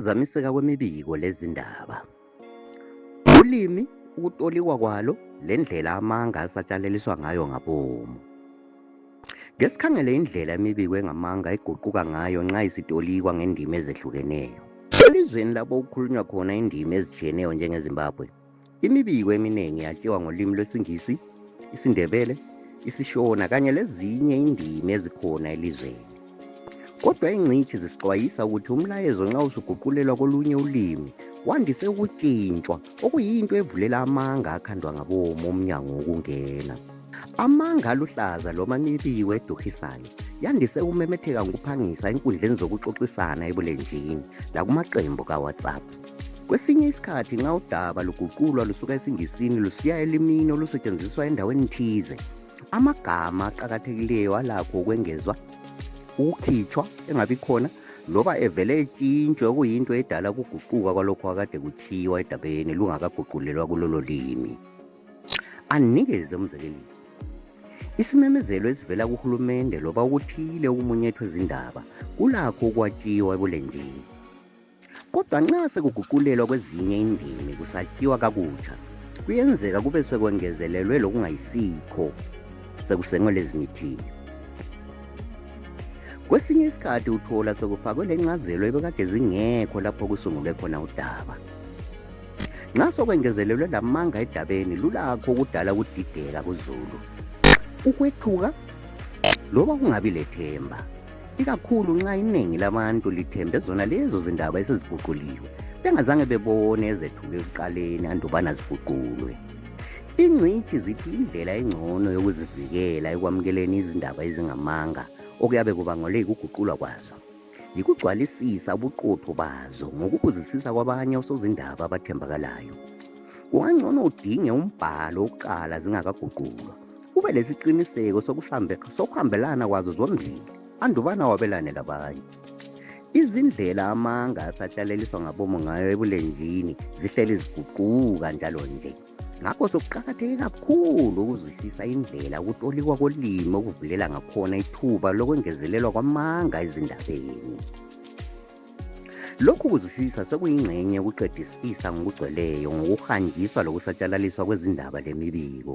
ukuphazamiseka kwemibiko lezindaba ulimi ukutolikwa kwalo lendlela amanga asatshalaliswa ngayo ngabomu ngesikhangele indlela imibiko engamanga eguquka ngayo nxa isitolikwa ngendima ezehlukeneyo elizweni lapho kukhulunywa khona indima ezitshiyeneyo njengezimbabwe Imibiko eminengi yatshiwa ngolimi lwesiNgisi, isiNdebele, isiShona kanye lezinye indimi ezikhona elizweni. Kodwa ingcitshi zisixwayisa ukuthi umlayezo nxa usuguqulelwa kolunye ulimi wandise ukutshintshwa okuyinto evulela amanga akhandwa ngabomo umnyango wokungena. Amanga aluhlaza loma imibiko eduhisayo yandise ukumemetheka ngokuphangisa enkundleni zokuxoxisana ebulenjini lakumaqembu kaWhatsApp. Kwesinye isikhathi nxa udaba luguqulwa lusuka esiNgisini lusiya elimini olusetshenziswa endaweni thize, amagama aqakathekileyo alakho ukwengezwa, ukukhitshwa, engabikhona loba evele etshintshwe okuyinto edala ukuguquka kwalokho akade kuthiwa edabeni lungakaguqulelwa kulolo limi. Anikeze umzekeliso. Isimemezelo esivela kuhulumende loba okuthile okumunyethwe zindaba kulakho ukwatshiwa ebulenjini. Kodwa nxa sekuguqulelwa kwezinye indimi kusakhiwa kakutsha, kuyenzeka kube sekwengezelelwe lokungayisikho sekusengwe lezimithiyo. Kwesinye isikhathi uthola sekufakwe lencazelo ebekade zingekho lapho kusungulwe khona udaba. Nxa sokwengezelelwe lamanga edabeni lulakho ukudala ukudideka kuzulu, ukwethuka loba kungabi lethemba. ikakhulu nxa inengi labantu lithembe zona lezo zindaba eseziguquliwe bengazange bebone ezethuka ekuqaleni andubana ziguqulwe ingcitshi zithi indlela engcono yokuzivikela ekwamukeleni izindaba ezingamanga okuyabe kubangole yikuguqulwa kwazo yikugcwalisisa ubuqotho bazo ngokubuzisisa kwabanye osozindaba abathembakalayo kungangcono udinge umbhalo wokuqala zingakaguqulwa ube lesiqiniseko sokuhambelana kwazo zombili andubana wabelane labanye izindlela amanga asahlaleliswa ngabomo ngayo ebulenjini zihleli ziguquka njalo nje ngakho sokuqakatheke kakhulu ukuzwisisa indlela ukutolikwa kolimi okuvulela ngakhona ithuba lokwengezelelwa kwamanga ezindabeni lokhu kuzwisisa sekuyingxenye yokuqedisisa ngokugcweleyo ngokuhanjiswa lokusatshalaliswa kwezindaba lemibiko